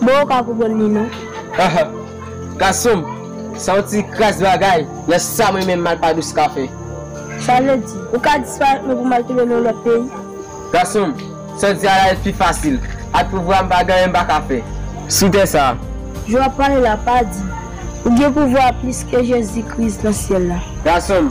Mwen ou ka konprann li non. Haha gasonm sa yon ti kras bagay nan sam renmen mal pa dous ka fè. Sa vle di ou ka disparèt mwen pou mal touve nan yon lòt peyi. Gasonm sa di a la pi fasil ak pou vwa m pa gen anyen m pa ka fè sou tè sa. Jan wap pale la pa di ou gen pouvwa plis ke jezi kris nan syèl la. Gasonm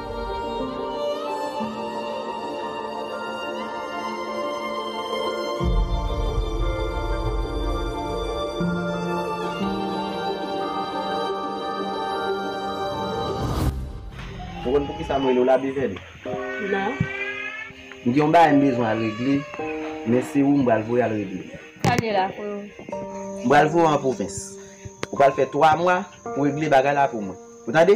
Ou konn poukisa m rele w la Bezèl? Non. M gen yon bagay m bezwen al regle, men se ou m pral voye al regle l. Pale la pou nou. M pral voye w an pwovens. Ou pral fè twa mwa pou w regle bagay la pou mwen. Ou tande?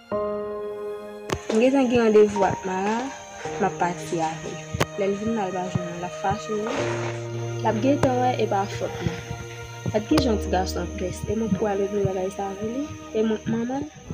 M gentan gen randevou ak Mara, m ap pati avè l. Lè l vin la l pa jwenn mwen, l ap fache wi. L ap gentan wè e pa fòt mwen. Gad ki jan ti gason an pès, e mwen pou al regle bagay sa avè li? E mwen k manman l?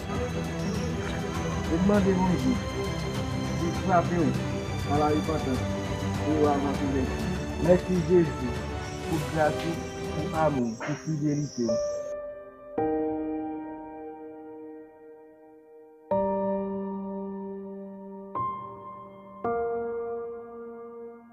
Ou k mande Bondye poul frapew nan la repantans pou ou avan kouvèti. Mèsi Jezi pou gras ou pou amou pou fidelite w.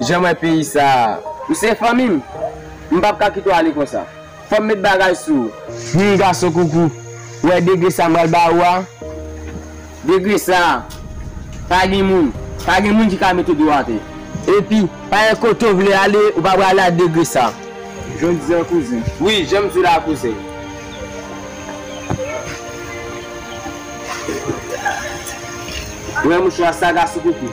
Janm wè peyi sa a. Ou se fanmi m. M pap ka kite w ale konsa. Fò m met bagay sou ou. Humm gason koukou. Ou wè degre sa m pral ba ou a? Degre sa a. Pa gen moun. Pa gen moun ki ka mete do atè. Epi, pa gen kote ou vle ale, ou pa prale a degre sa a. Jan w di la kouzen. Wi, jan m di la kouzen. Ou wè mouchwa sa gason koukou?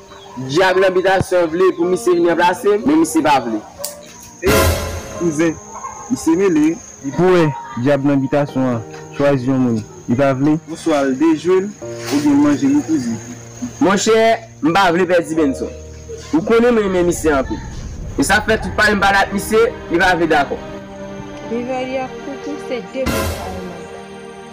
Dyab nan bitasyon vle pou misye vin ranplase m, men misye pa vle. Ey kouzen, misye mele wi. Li pou wè dyab nan bitasyon an chwazi yon moun li pa vle. Ou swa al dejwe l oubyen l manje li kouzen. Monchè, m pa vle pèdi Benson. Ou konnen m renmen misye anpil. E sa fè tout pale m pale ak misye, li pa vle dakò. Beverly ak Koukou se de moun sa yo menm.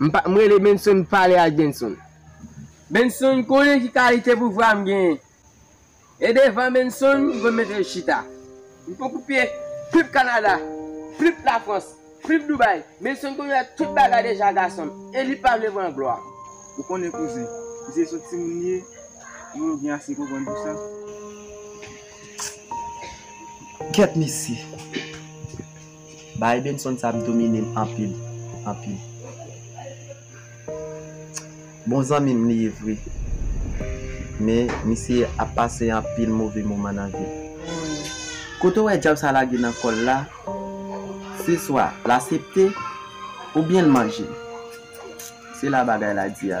M pa, m rele Benson pale ak Benson. Benson konnen ki kalite pouvwa m genyen. E devan Benson m konn mete chita. M pou koupe pip Kanada, pip Lafrans, pip Dubai. Benson konn wè tout bagay deja gason m, e li pa vle pran glwa. Ou konnen kouzen, m se sot timoun m ye, mwen gen ase konprann pou sa. Kèt mesye. Baay Benson sa ap dominem anpil anpil Bon zanmim li ye vre men misye ap pase anpil move moman nan vil Kote w wè djab sa lage nan kòl la se swa l asepte oubyen l manje l se la bagay la di a.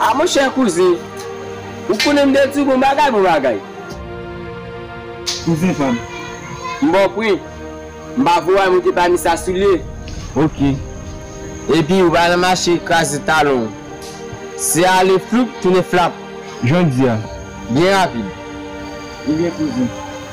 A mon chè kouzen, ou konnen m de di w bon bagay bon bagay. Kouzen pa m. M ba w pwen. M pa voye w monte pami sa soulye. Ok. Epi ou pa nan mache kraze talon w. Se ale floup tounen flap. Jan w di a. Byen rapid. Ebyen kouzen.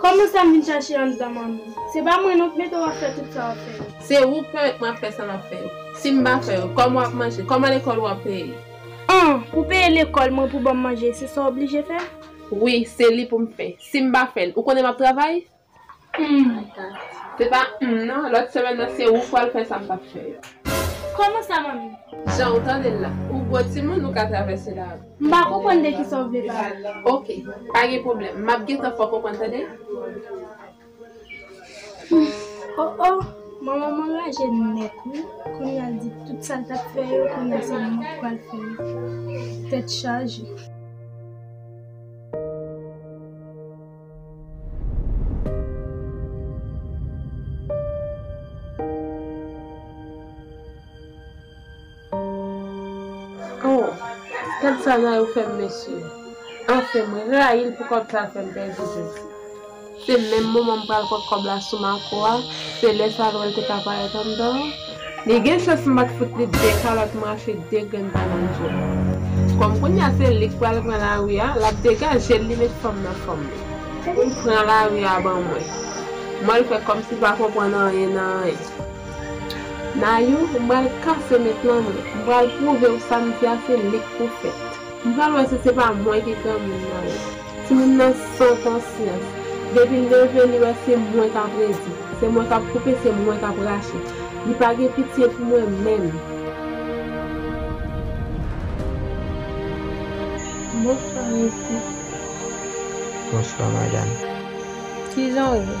Kòman sa m vin chache anndan manmi. Se pa mwen non k mete w ap fè tout sa w ap fè yo. Se ou k pèmèt mwen ap fè sa m ap fè yo. Si m pa fè yo, kòman w ap manje? Kòman lekòl ou ap peye? An! Pou peye lekòl mwen, pou ban m manje, se sa w oblije fè? Wi, se li pou m fè. Si m pa fè l, ou konnen m ap travay? Humm. Se pa humm non, lòt semèn nan se ou k pral fè sa m p ap fè yo. Kòman sa manmi? Jan ou tande l la. Ou gwo timoun, ou ka travèse lari. M pa konprann de kisa w vle pale. Ok, pa gen pwoblèm. M ap gentan fè w konprann tande. Humm oh oh manman m anraje nèt wi kounya l di tout sa l t ap fè yo kounya se mwen k pral fè yo. Tèt chaje. Oh gad sa Nayou t fèm mesye anfen mwen rayil pou kòb sa fèm pèdi jes se menm moman m pral pot kòb la sou Marco a se lè sa lwèl te ka parèt anndan an li gen chans m pat fout li 2 kalòt mache 2 grenn banann jel kòm kounya se li k pral pran lari a lap degajel li met fanm nan fanm li pran lari a ban mwen m wèl fè kòmsi l pa konprann anyen nan anyen. Nayou m pral kase met lan mwen. M pral pwouvew sam di a se lik pou fèt. M pral wè si se pa mwen ki granmoun Nayou. Timoun nan san konsyans. Depil leve li wè se mwen kap redi. Se mwen kap koupe se mwen kap rache. Li pa gen pitye pou mwen menm. Bonswa mesye. Bonswa madam. Kijan ou ye?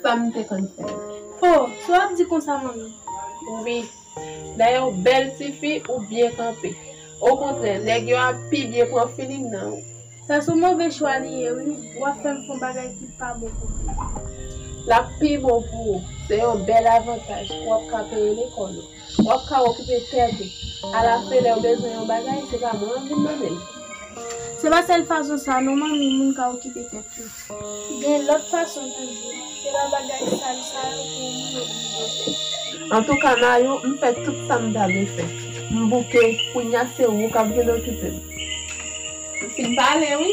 Sa m te konn fè. Ho! Sa w ap di konsa manmi? Wi. Dayè w bèl ti fi, ou byen kanpe. Okontrè, nèg yo ap pi byen pran feeling nan ou. Sa s on move chwa li ye wi. W ap fè m fè yon bagay ki pa bon pou mwen. L ap pi bon pou ou. Se yon bèl avantaj. W ap ka peye lekòl ou. Wap ka okupe tèt ou. A la fen lèw bezwen yon bagay se pa mwen wap vin mandel. Se pa sèl fason sa non manmi moun ka okupe tèt yo. Gen lòt fason toujou. Se pa bagay sal sa yo pou moun oblije fè. Antouka Nayou m fè tout sam ta dwe fè. M bouke, kounya se ou kap vin okipem. Ou fin pale wi.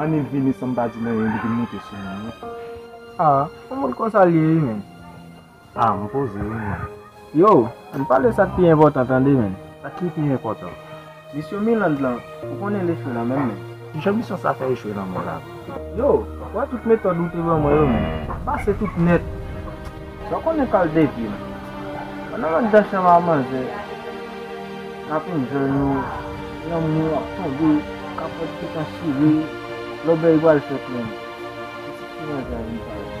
Anil vini san m pa di l anyen li vin moute sou moun wi. A, yon moun konsa l ye wi menn. A, m poze wi menn. Yo, ann pale sa k pi enpòtan tande menn. Sa k ki pi enpòtan? Misyon Mirlande lan ou konnen l echwe nan menm men. Kijan misyon sa fè echwe nan menm la? Yo, wè tout metòd ou te ban mwen yo men, m pase tout nèt. Sa w konnen kal depye m. Pandan m ak dan chanm a manzè n ap enjoy nou, lanmou ap tonbe, kapòt gentan chire, lòbèy pral fèt menm. Pitit ki manzè a vin pare.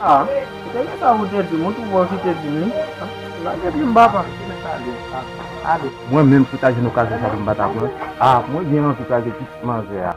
Ah ou te gentan pou te dim ou tou bon kite dim li Lage plim papa Ou met ale ah ale Mwen menm si ta jwenn okazyon sa tou m pa ta pran Ah mwen gen anvi kraze pitit manzè a.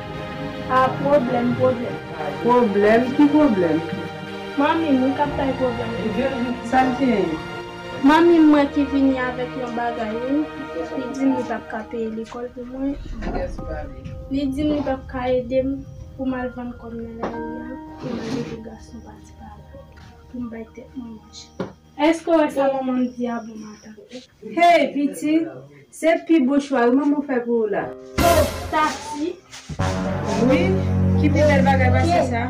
Ah pwoblèm pwoblèm. Pwoblèm ki pwoblèm. Manmi m ou kap bay pwoblèm toujou. Sa l genyen? Manmi m mwen ki vini avèk yon bagay wi. Li di m li pap ka peye lekòl pou mwen. Li di m li pap ka ede m pou m al vann kò m nan lari a pou m al ede gason pati pa la pou m bay tèt mwen manje. Eske w wè sa manman m di a bon matant. Hey pitit, se pi bon chwal manman w fè pou ou la. Oh Tatie. Wi, ki pi bèl bagay pase sa?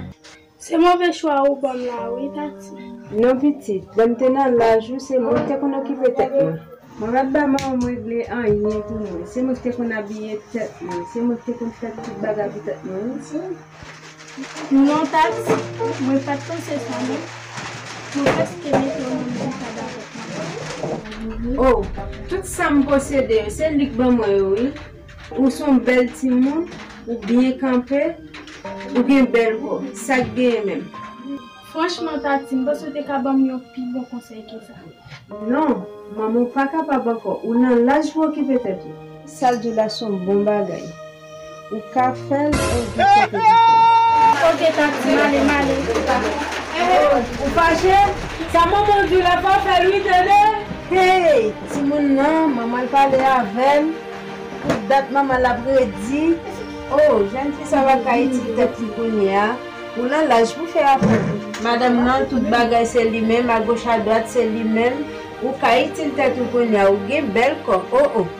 Se move chwa ou ban m la wi Tatie. Non pitit, lè m te nan laj ou se mwen ki te konn okipe tèt mwen. Mwen pa t ba manman m regle anyen pou mwen. Se mwen ki te konn abiye tèt mwen. Se mwen ki te konn fè tout bagay pou tèt mwen wi. Non tax mwen pat panse sa non mwen preske mete yon moun ki ka dakò avèk mwen. Oh tout sam posede yo se lik ban mwen yo wi ou son bèl timoun ou byen kanpe ou gen bèl kò sak genyen menm. Franchman Tati m panse w te ka banm yon pi bon konsèy ke sa. Non manmi ou pa kapab ankò ou nan laj pou okipe tèt ou. Sal di la son bon bagay. Ou ka fel ou di kote pou fel. Ok taxi male male se sa. Eeh ou fache sa manmanw diw la pa fel wi tande. Hey timoun nan manmanl pale avèl tout dat manmanl ap redi oh jèn fi sa pa ka itil tèt li kounyea ou lan laj pou fè afè madanm nan tout bagay se li menm agoch adwat se li menm ou ka itil tèt ou kounyea ou gen bèl kò oh oh.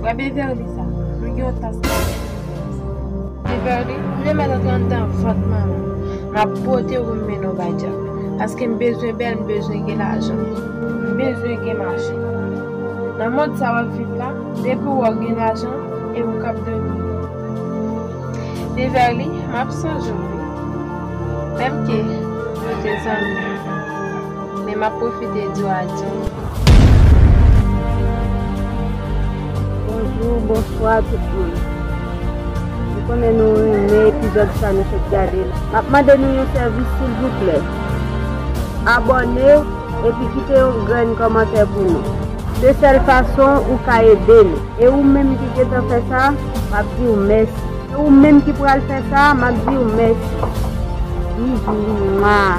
Frè Beverly sa Nou gen yon tas kafe pou li menm sa. Beverly, m renmen l antre anndan vant manman m. M ap pote w m mennen w bay djab. Paske m bezwen bèl m bezwen gen lajan. M bezwen gen machin. Nan mond sa w ap viv la, depi w wè w gen lajan e ou kab dòmi byen. Beverly, m ap sonje w wi. Menmke nou te zanmi. Men map profite diw adye. Bonjou, bonswa tout moun. M konnen nou renmen epizòd sa nou fèk gade la. Map mande nou yon sèvis silvouplè. Abòne epi kite yon grenn kòmantè pou nou. Se sèl fason ou ka ede nou. E ou menm ki gentan fè sa, map diw mèsi. E ou menm ki pral fè sa, map diw mèsi. Bizou. Mwaa.